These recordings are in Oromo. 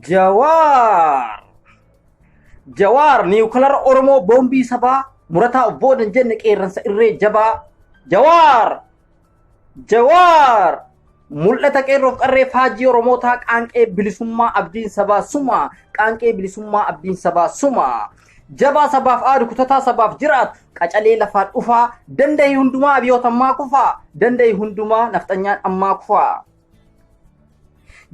Jawaar! Jawaar niwukilara Oromoo boombii sabaa murataa of booda hin jenne qeerransa irree jabaa. Jawaar! Jawaar! Mul'ata qeerroof qarree faajii Oromootaa qaanqee bilisummaa abdiin sabaa suma. Qaanqee bilisummaa abdiin sabaa suma. Jabaa sabaaf aadu kutataa sabaaf jiraatu. qacalee lafaa dhufaa danda'i hundumaa abiyoota ammaa kufaa danda'i hundumaa nafxanyaan ammaa kufaa.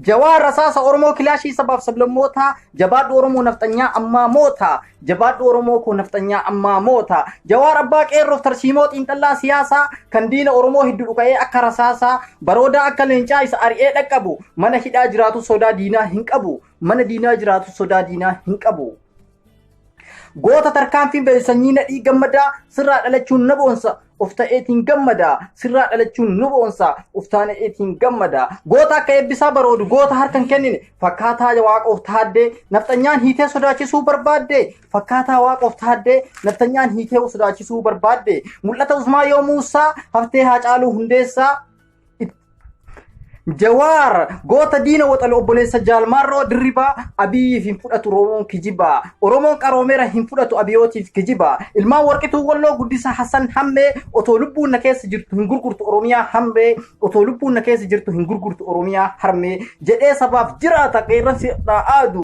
Jawaa rasaasa Oromoo kilaashii sabaaf sablammootaa jabaadhu Oromoo nafxanyaa ammaa moota jabaadhu Oromoo koo nafxanyaa ammaa moota jawaar abbaa qeerroof tarsiimoo xiinxallaa siyaasaa kan diina Oromoo hedduu dhuka'ee akka rasaasaa baroodaa akka leencaa isa ari'ee dhaqqabu mana hidhaa jiraatu sodaa diinaa hin qabu mana diinaa jiraatu sodaa diinaa hin qabu. Goota tarkaanfiin ba'e sanyii nadhii gammadaa sirraa dhalachuun na boonsa of ta'eetiin gammadaa sirraa dhalachuun nu boonsa of ta'eetiin gammadaa goota akka eebbisaa baroodu goota harka hin kennine fakkaataa waaqoof taaddee nafxanyaan hiitee sodaachisuu barbaadde fakkaataa waaqoof taaddee nafxanyaan hiitee sodaachisuu barbaadde mul'ata usmaa yoo muusaa haftee haa caaluu hundeessaa Jawaar goota diina waxale obboleessa jaalmaarroo dirribaa abiyyiif hin fudhatu Oromoon kijibaa Oromoon qaroomeera hin fudhatu abiyootiif kijibaa ilmaan warqituu walloo guddisa Hassan hammee otoo lubbuun na keessa jirtu hin gurgurtu Oromiyaa hammee otoo lubbuun na keessa jirtu hin gurgurtu Oromiyaa harmee jedhee sabaaf jiraata qeerransi irraa aadu.